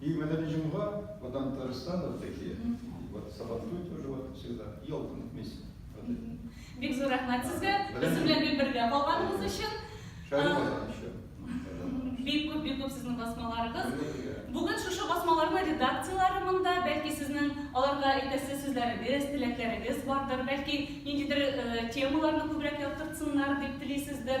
И в этот день ва, вот там тоже стало вот такие, и вот сабантуй тоже вот всегда, елка на месте. Бик зур рәхмәт сезгә, без белән бик бергә калганыгыз өчен. Бик күп, бик күп сезнең басмаларыгыз. Бүген шушы басмаларны редакцияләре монда, бәлки сезнең аларга әйтәсе сүзләрегез, теләкләрегез бардыр, бәлки ниндидер темаларны күбрәк яктыртсыннар дип телисездер.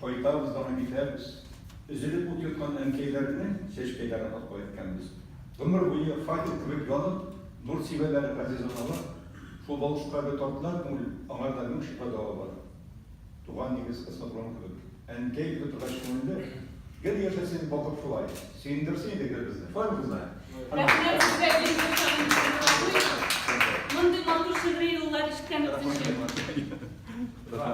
Кайтабыз аны китәбез. Өзелеп ут йоткан әнкәйләрне чәчкәйләр атып кайткәнбез. Гомер буе факел кебек янып, нур сибәләр газиз аналар. Шул балчыкка бер тартылар күңел, аңарда мең шифа дәва бар. Туган нигез космодром кебек. Әнкәй дип утыргач күңелле. Гел яшәсен балкып шулай. Сөендерсен иде гел безне. Шулай бу кызлар? Рәхмәт сезгә бик зур шагыйрь Мондый матур шигъри юллар ишеткән икенче.